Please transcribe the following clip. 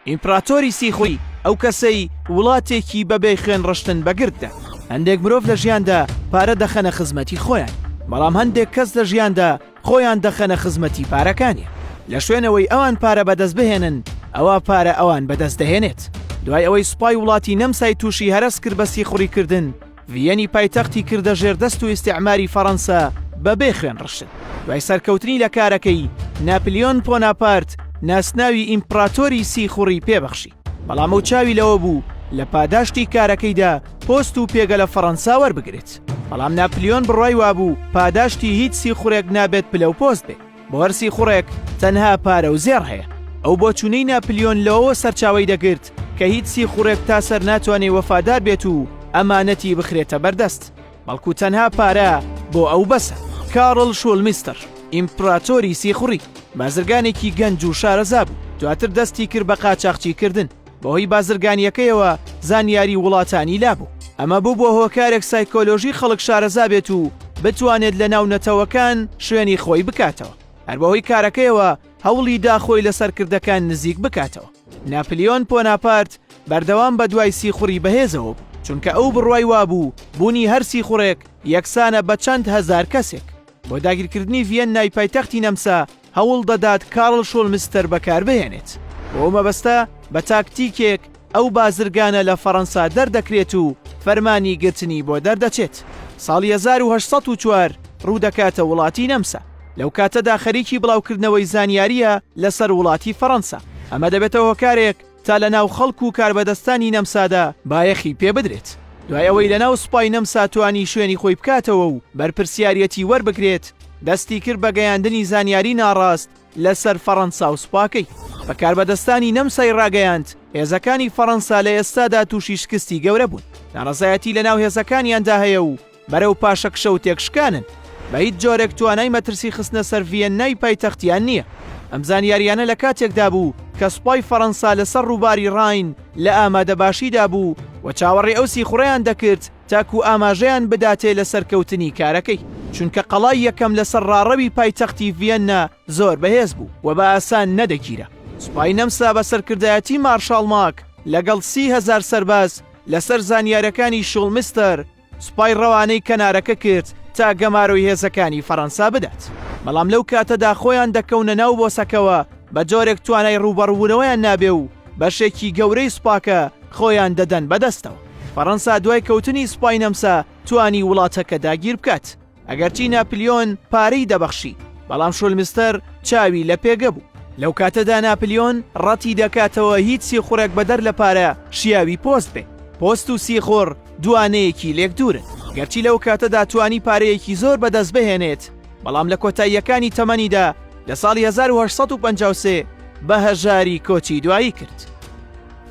ئیمپڕاتۆری سیخوڕی، ئەو کەسەی وڵاتێکی بەبێ خوێن ڕشتن بە گرد دا. هەندێک مرۆڤ لە ژیاندا پارە دەخەنە خزمەتی خۆیان، بەڵام هەندێک کەس لە ژیاندا خۆیان دەخەنە خزمەتی پارەکانیان. لە شوێنەوەی ئەوان پارە بەدەست بهێنن، ئەوا پارە ئەوان بەدەست دەهێنێت. دوای ئەوەی سوپای وڵاتی نەمسای تووشی هەرەس کرد بە سیخوڕیکردن، ڤییەنی پایتەختی کردە ژێردەست و ئیستیعماری فەڕەنسا بە بێ خوێن ڕشتن. دوای سەرکەوتنی لە کارەکەی، ناپلیۆن پۆناپارت ناسناوی ئیمپڕاتۆری سیخوڕی پێ بەخشی. بەڵام ئەو چاوی لەوە بوو لە پاداشتی کارەکەیدا پۆست و پێگە لە فەڕەنسا وەربگرێت. بەڵام ناپلیۆن بڕوای وابوو پاداشتی هیچ سیخوڕێک نابێت پلە و پۆست بێ. بەوەرسی خوڕێک تەنها پارە و زێڕ هەیە. ئەو بۆچوونەی ناپلیۆن لەوەوە سەرچاوەی دەگرت کە هیچ سیخوڕێک تا سەر ناتوانێ وەفادار بێت و ئەمانەتی بخرێتە بەردەست، بەڵکو تەنها پارە بۆ ئەو بەسە. کاڕڵ شوڵمیستڕ، ئیمپڕاتۆری سیخوڕی، بازرگانێکی گەنج و شارەزا بوو، دواتر دەستی کرد بە قاچاخچیکردن. بەهۆی بازرگانییەکەیەوە زانیاری وڵاتانی لابوو، ئەمە بووبووە هۆکارێک سایکۆلۆژی خەڵک شارەزا بێت و بتوانێت لەناو نەتەوەکان شوێنی خۆی بکاتەوە، هەر بەهۆی کارەکەیەوە هەوڵی دا خۆی لە سەرکردەکان نزیک بکاتەوە. ناپلیۆن پۆناپارت بەردەوام بەدوای سیخوڕی بەهێزەوە بوو، چونکە ئەو بڕوای وابوو بوونی هەر سیخوڕێک یەکسانە بە چەند هەزار کەسێک. بۆ داگیرکردنی ڤیەننای پایتەختی نەمسا، هەوڵ دەدات کارل شۆلمستەر بەکاربهێنێت، بۆ مەبەستە بە تاکتیکێک ئەو بازرگانە لە فەرەنسا دەردەکرێت و فەرمانی گرتنی بۆ دەردەچێت. ساڵی هەزار و هەشت سەد و چوار ڕوودەکاتە وڵاتی نەمسا، لەو کاتەدا خەریکی بڵاوکردنەوەی زانیارییە لەسەر وڵاتی فەرەنسا، ئەمە دەبێتە هۆکارێک، تا لە ناو خەڵک و کاربەدەستانی نەمسادا بایەخی پێ بدرێت، دوای ئەوەی لە ناو سوپای نەمسا توانی شوێنی خۆی بکاتەوە و بەرپرسیاریەتی وەربگرێت، دەستی کرد بە گەیاندنی زانیاری ناڕاست لە سەر فەڕەنسا و سوپاکەی. بە کاربەدەستانی نەمسای ڕاگەیاند هێزەکانی فەڕەنسا لە ئێستادا تووشی شکستی گەورە بوون، ناڕەزایەتی لە ناو هێزەکانیاندا هەیە و بەرەو پاشەکشە و تێکشکانن، بە هیچ جۆرێک توانای مەترسی خستنە سەر ڤیەننای پایتەختیان نییە. ئەم زانیاریانە لە کاتێکدا بوو کە سوپای فەڕەنسا لەسەر ڕووباری ڕاین لە ئامادەباشیدا بوو و چاوەڕێی ئەو سیخوڕەیان دەکرد تاکوو ئاماژەیان بداتێ لە سەرکەوتنی کارەکەی، چونکە قەڵای یەکەم لەسەر ڕاڕەوی پایتەختی ڤیەننا زۆر بەهێز بوو و بە ئاسان نەدەگیرا. سوپای نەمسا بە سەرکردایەتی مارشاڵ ماک لەگەڵ سی هەزار سەرباز لەسەر زانیارەکانی شوڵمیستەر، سوپای ڕەوانەی کەنارەکە کرد تا گەمارۆی هێزەکانی فەڕەنسا بدات، بەڵام لەو کاتەدا خۆیان دەکەونە ناو بۆسەکەوە بە جۆرێک توانای ڕووبەڕووبوونەوەیان نابێ و بەشێکی گەورەی سوپاکە خۆیان دەدەن بەدەستەوە. فەڕەنسا دوای کەوتنی سوپای نەمسا توانی وڵاتەکە داگیر بکات. ئەگەرچی ناپلیۆن پارەی دەبەخشی بەڵام شولمستەر چاوی لە پێگە بوو لەو کاتەدا ناپلیۆن ڕەتی دەکاتەوە هیچ سیخوڕێک بەدەر لە پارە شیاوی پۆست بێ پۆست و سیخۆڕ دوانەیەکی لێک دوورن گەرچی لەو کاتەدا توانی پارەیەکی زۆر بەدەست بهێنێت بەڵام لە کۆتاییەکانی تەمەنیدا لە ساڵی 1950 بە هەژاری کۆچی دوایی کرد.